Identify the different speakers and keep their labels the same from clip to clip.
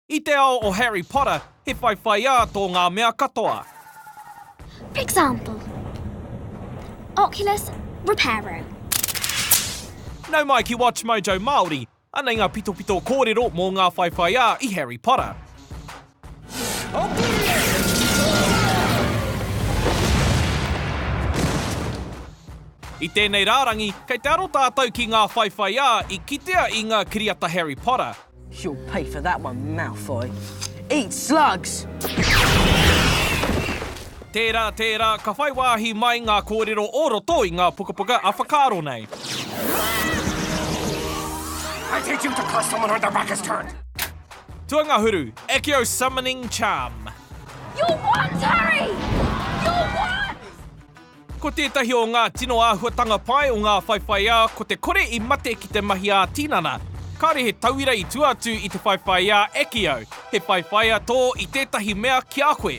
Speaker 1: I te ao o Harry Potter, he whaiwhaiā tō ngā mea katoa. For example, Oculus Reparo. Nau mai ki Watchmojo Māori, Anei ngā pitopito kōrero mō ngā whaiwhaiā i Harry Potter.I tēnei rārangi, kei te aro tātou ki ngā whaiwhaiā i kitea i ngā kiriata Harry Potter. You'll pay for that one, Malfoy. Eat slugs! Tērā, tērā, ka whai wāhi mai ngā kōrero o roto i ngā pukapuka a whakaaro nei. I teach him to curse someone when their back is turned! Tuangahuru, Accio Summoning Charm. You're what, Harry? You're what? Ko tētahi o ngā tino āhuatanga pai o ngā whaiwhaiā ko te kore i mate ki te mahi ā-tinana. Kāore he tauira i tua atu i te whaiwhaiā Accio, he whaiwhaiā tō i tētahi mea ki a koe.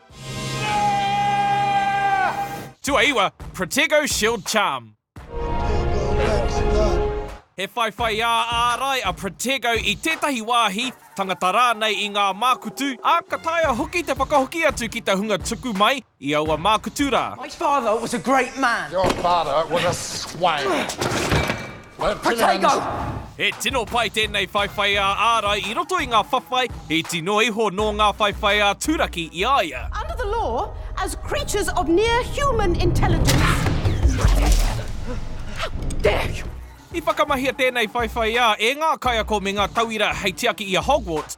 Speaker 1: Tuaiwa, Protego Shield Charm. He whaiwhaiā ārai a Protego i tētahi wāhi, tangata rānei i ngā mākutu, ā, ka taea hoki te whakahoki atu ki te hunga tuku mai i aua mākutu rā. My father was a great man. Your father was a swine. Potato! He tino pai tēnei whaiwhai ā ārai i roto i ngā whawhai, he tino iho nō ngā whaiwhai ā turaki i a ia. Under the law, as creatures of near human intelligence. I whakamahia tēnei whaiwhai ā e ngā kaiako me ngā tauira hei tiaki i a Hogwarts.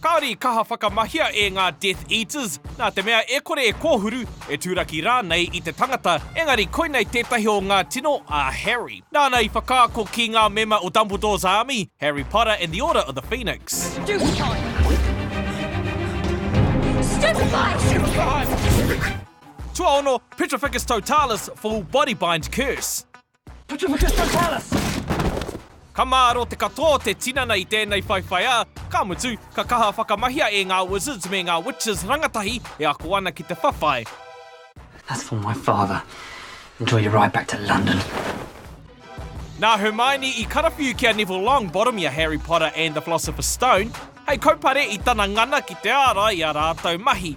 Speaker 1: Kāore i kaha whakamahia e ngā Death Eaters, nā te mea e kore e kōhuru, e turaki rānei i te tangata, engari koinei tētahi o ngā tino a Harry. Nāna i whakaako ki ngā mema o Dumbledore's Army, Harry Potter and the Order of the Phoenix. Stupefy! Stupefy! Stupefy! Tuaono, Petrificus Totalis, Full Body Bind Curse. Ka māro te katoa o te tinana i tēnei whaiwhai ā, ka mutu, ka kaha whakamahia e ngā Wizards me ngā Witches rangatahi e ako ana ki te whawhai. Nā Hermione i karawhiu ki a Neville Longbottom i a Harry Potter and the Philosopher's Stone hei kaupare i tana ngana ki te ārai i ā rātou mahi.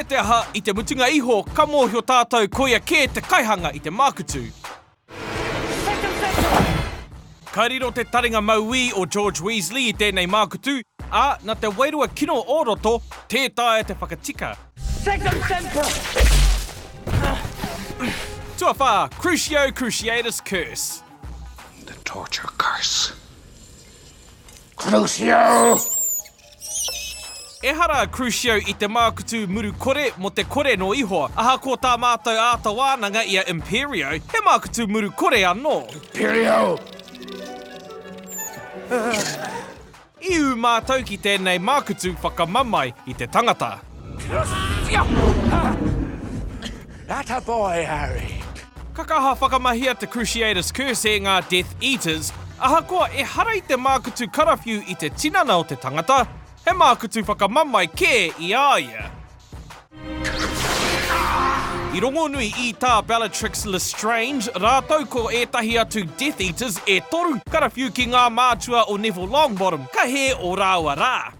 Speaker 1: Me te aha, i te mutunga iho, ka mōhio tātou koia kē te kaihanga i te mākutu. Ka riro te taringa mauī o George Weasley i tēnei mākutu, ā, nā te wairua kino o roto, tē taea te whakatika. Tuawhā, Crucio Cruciatus Curse. The Torture Curse. Crucio! Ehara Crucio i te mākutu muru kore mō te kore nō Ihoa. Ahakoa tā mātou āta wānanga i a Imperio, he mākutu muru kore anō. Imperio! I ū mātou ki tēnei mākutu whakamamae i te tangata. Ata boy, Harry. Ka kaha whakamahia te Cruciatus Curse e ngā Death Eaters, ahakoa ehara i te mākutu karawhiu i te tinana o te tangata, he mākutu whakamamae kē i a ia. I rongonui i tā Bellatrix Lestrange rātou ko ētahi atu Death Eaters e toru, karawhiu ki ngā mātua o Neville Longbottom, ka hē ō rāua rā.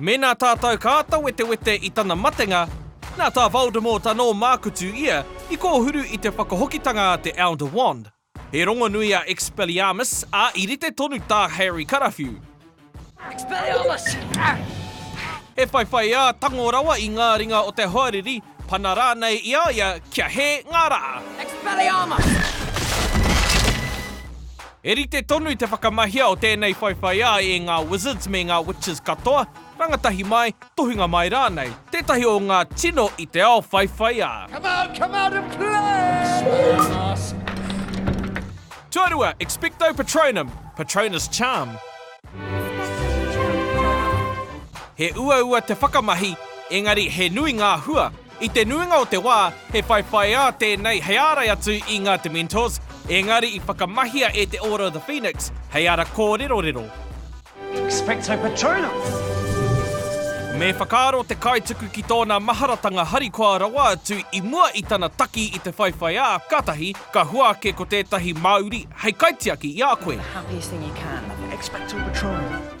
Speaker 1: Mēnā tātou ka āta wetewete i tana matenga, nā tā Voldemort anō mākutu ia i kōhuru i te whakahokitanga a te Elder Wand. He rongonui a Expelliarmus, ā, i rite tonu tā Harry karawhiu. Expelliarmus! He whaiwhaiā tango rawa i ngā ringa o te hoariri, pana rānei i a ia kia hē ngā rā. Expelliarmus! He rite tonu te whakamahia o tēnei whaiwhaiā e ngā Wizards me ngā Witches katoa, rangatahi mai, tohunga mai rānei, tētahi o ngā tino i te ao whaiwhaiā. Come out, come out and play! Tuarua, Expecto Patronum, Patronus Charm. He uaua te whakamahi, engari he nui ngā hua, I te nuinga o te wā, he whaiwhaiā tēnei hei ārai atu i ngā Dementors, ēngari i whakamahia e te Order of the Phoenix hei ara kōrerorero. Expecto Patronum! Me whakaaro te kaituku ki tōna maharatanga harikoa rawa atu i mua i tana taki i te whaiwhaiā, kātahi ka hua ake ko tētahi māuri hei kaitiaki i a koe. Expecto Patronum!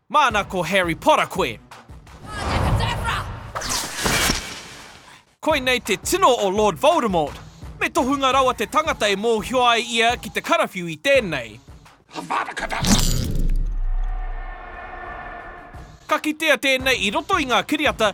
Speaker 1: Māna ko Harry Potter koe! Koinei te tino o Lord Voldemort! Me tohunga rawa te tangata e mōhio ai ia ki te karawhiu i tēnei. Avada Kedavra! Ka kitea tēnei i roto i ngā kiriata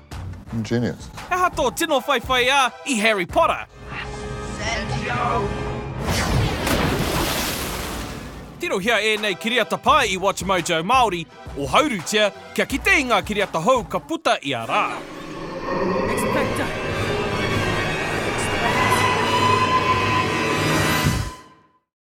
Speaker 1: Ingenious. He aha tō tino whaiwhaiā i Harry Potter? Tirohia ēnei kiriata pae i WatchMojo Māori, ohaurutia kia kite i ngā kiriata hou ka puta ia rā.